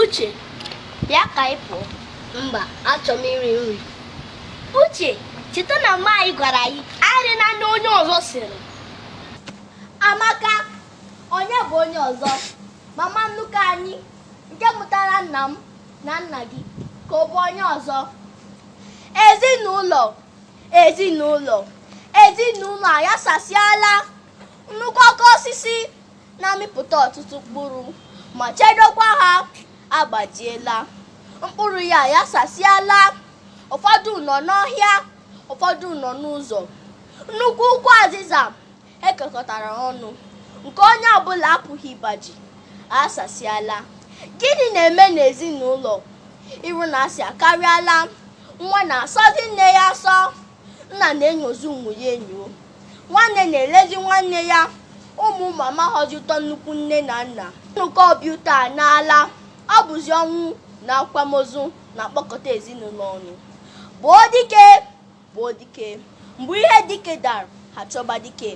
Uche, bịa ka ị pụọ. Mba, achọrọ m iri nri. Uche, cheta na mma anyị gwara anyị erina nri onye ọzọ siri. Amaka, onye bụ onye ọzọ? Mama nnukwu anyị nke mụtara nna m na nna gị ka ọ bụ onye ọzọ. Ezinụlọ ezinụlọ ezinụlọ ayasasịala nnukwu oke osisi na-amịpụta ọtụtụ mkpụrụ ma chedokwa ha agbajiela mkpụrụ ya ayasasịala ụfọdụ nọ n'ọhịa ụfọdụ nọ n'ụzọ nnukwu ukwu azịza e kekọtara ọnụ nke onye ọbụla apụghị ịgbaji asasịala gịnị na-eme n'ezinụlọ iro na asị akarịala nwa na-asọzi nne ya asọ nna na-enyozi ụmụ ya enyo nwanne na-elezi nwanne ya ụmụ ụmụ amaghọzi ụtọ nnukwu nne na nna nnọkọ obi ụtọ anaala ọ bụzi ọnwụ na akwamozu na-akpọkọta ezinụlọ ọnụ gbuo dike gbuo dike mgbe ihe dike dara ha chọba dike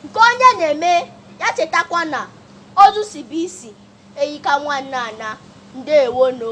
nke onye na-eme ya chetakwa na ozu sibe isi enyi ka nwanne anaa ndewo nụ